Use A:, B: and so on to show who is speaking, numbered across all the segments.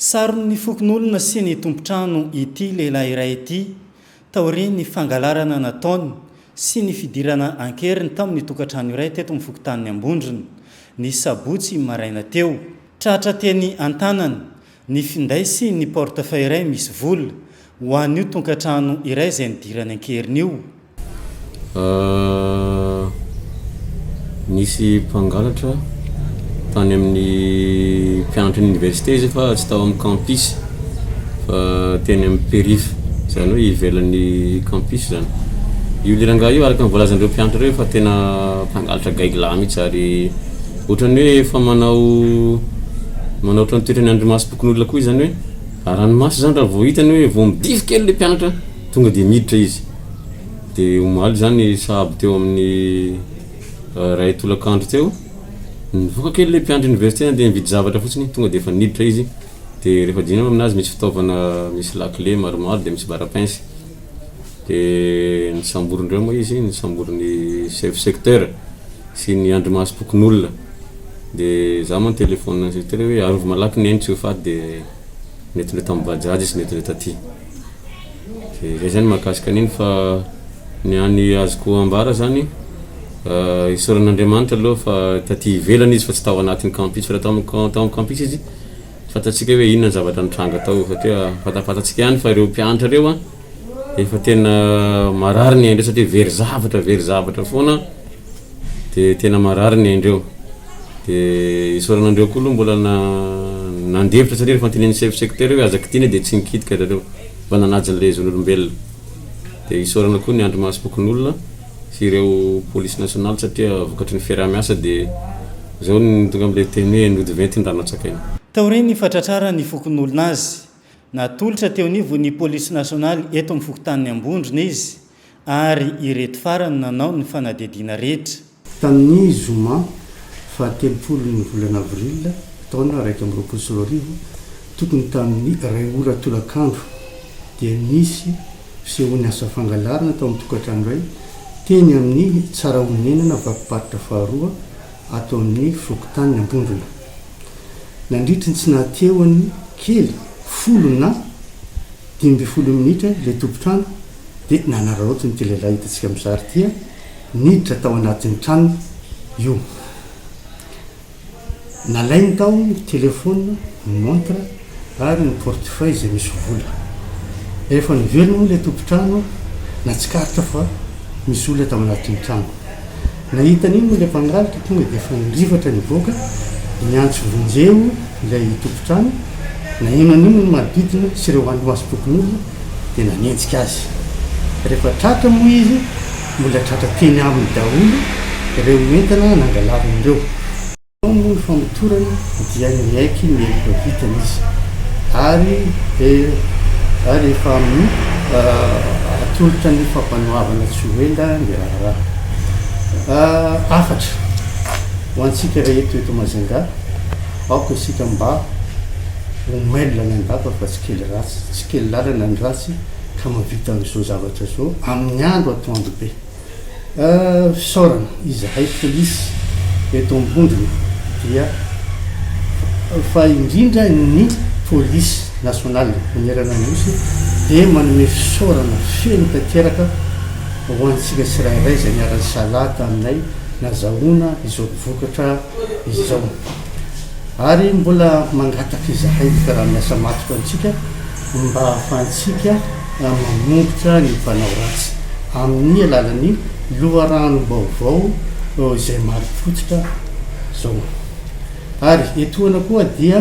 A: Saron'ny fokonolona sy ny tompon-trano ity lehilahy iray ity taorian'ny fangalarana nataony sy ny fidirana an-keriny tamin'ny tokantrano iray teto amin'ny fokontanin'i Ambondrona, ny sabotsy maraina teo. Tratra teny an-tanany ny finday sy ny porte-feuille iray misy vola, Ho an'io tonkatrano iray izay nidirany an-keriny io. Ahh,
B: nisy mpangalatra tany amin'ny mpianatry ny université izy io fa tsy tao amin'ny campus fa teny amin'ny périph, izany hoe ivelan'ny campus izany. Io le rangahy io araka ny voalazan'ireo mpianatra ireo fa tena mpangalatra gaigy lahy mihitsy ary ohatran'ny hoe efa manao, manao ohatran'ny toetran'ny andrimasom-pokonolona koa izany hoe. Raha ranomaso izany raha vao hitany hoe vao midilo kely ilay mpianatra tonga dia miditra izy. Dia omaly izany sahabo teo amin'ny iray tolakandro teo, nivoaka kely ilay mpianatra oniversite nandeha nividy zavatra fotsiny, tonga dia efa niditra izy. Dia rehefa dinihina aminazy misy fitaovana misy lakile maromaro dia misy barapince. Dia ny samborindreo moa izy, ny samborin'ny chef secteur sy ny andrimasom-pokonolona. Dia za moa nitelefaonina an'i secteur hoe arovy malaky neny tsy ho faty dia nety indray tamin'ny bajaj izy, nety indray taty. Dia zay zany mahakasika an'iny fa ny ahy ny azoko ambara zany isaoran'Andriamanitra aloha fa taty ivelany izy fa tsy tao anatin'ny campus fa raha tao amin'ny campus izy Fantatsika hoe inona ny zavatra nitranga tao satria fantafantatsika ihany fa ireo mpianatra ireo a efa tena marary ny ain-dreo satria very zavatra very zavatra foana de tena marary ny ain-dreo de isaorana andreo koa aloha mbola na nandefitra satria rehefa antenenin'ny chef secteur hoe aza kitihina de tsy nikitika zareo mba nanaja an'ilay zon'olombelona de isaorana koa ny andrimasom-pokonolona sy ireo police nationale satria vokatry ny fiaraha-miasa dia izao no tonga amin'ilay teny hoe nody venty ny rano antsakaina. Taorian'ny fatratraran'ny
A: fokonolona azy, natolotra teo anivon'ny police nationale eto amin'ny fokontanin'i Ambondrona izy ary ireto farany no nanao ny fanadihadiana rehetra. Tamin'ny
C: zoma faha telopolon'ny volana avril taona iraika amby roapolo sy roa arivo tokony tamin'ny iray ora tolakandro dia nisy Fisehoan'ny asa fangalarana tao amin'ny tokantrano iray teny amin'ny Tsarahonenana Vakim-paritra faharoa ato amin'ny fokontanin'ny Ambondrona. Nandritry ny tsy nahatehony kely folo na dimy ambin'ny folo minitra ilay tompon-trano dia nanararaotiny ity lehilahy hitantsika mizary ity niditra tao anatin'ny tranony io. Nalainy tao ny telefaonina, ny montre ary ny portefeuille izay misy vola. Rehefa niverina moa ilay tompon-trano, natsikaritra fa misy olona tao anatin'ny trano. Nahita an'iny moa ilay mpangalatra tonga dia efa nirivatra nivoaka, niantso vonjeo ilay tompon-trano. Naheno an'iny ny manodidina sy ireo hanimasom-pokonolona dia nanenjika azy. Rehefa tratra moa izy, Mbola tratra teny aminy daholo ireo entana nangalariny ireo. Tao moa ny famotorana dia niaiky ny heloka vitany izy ary ary efa amin'ny atolotra ny fampanoavana tsy ho ela ny raharaha. Hafatra ho antsika rehetra eto Majunga, aoka isika mba ho mailona ny andapa fa tsy kely ratsy, tsy kely lalana ny ratsy. ka mahavita an'izao zavatra izao amin'ny andro atoandro be. Fisaorana, izahay polisy eto Ambondrona dia fa indrindra ny polisy nasionaly manerana ny Nosy dia manome fisaorana feno tanteraka ho antsika tsirairay izay niara-nisalahy taminay nazahoana izao vokatra izao. ary mbola mangataka izahay ny mpiara-miasa matotra amintsika mba hahafahantsika mamongotra ny mpanao ratsy amin'ny alalan'ny loharanom-baovao izay marim-pototra izao. Ary etoana koa dia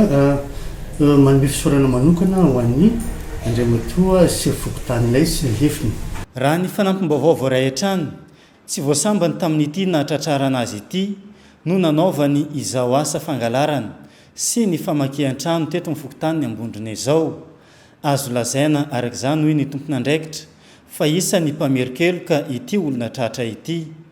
C: manome fisaorana manokana ho an'i Andriamatoa Sefo Fokontany Lay sy ny lefiny. Raha ny fanampim-baovao
A: voaray hatrany Tsy vao sambany tamin'ity nahatratrarana azy ity no nanaovany izao asa fangalarana sy ny famakian-trano teto amin'ny fokontanin'i Ambondrona izao. Azo lazaina araka izany hoy ny tompon'andraikitra fa isan'ny mpamerin-keloka ity olona tratra ity.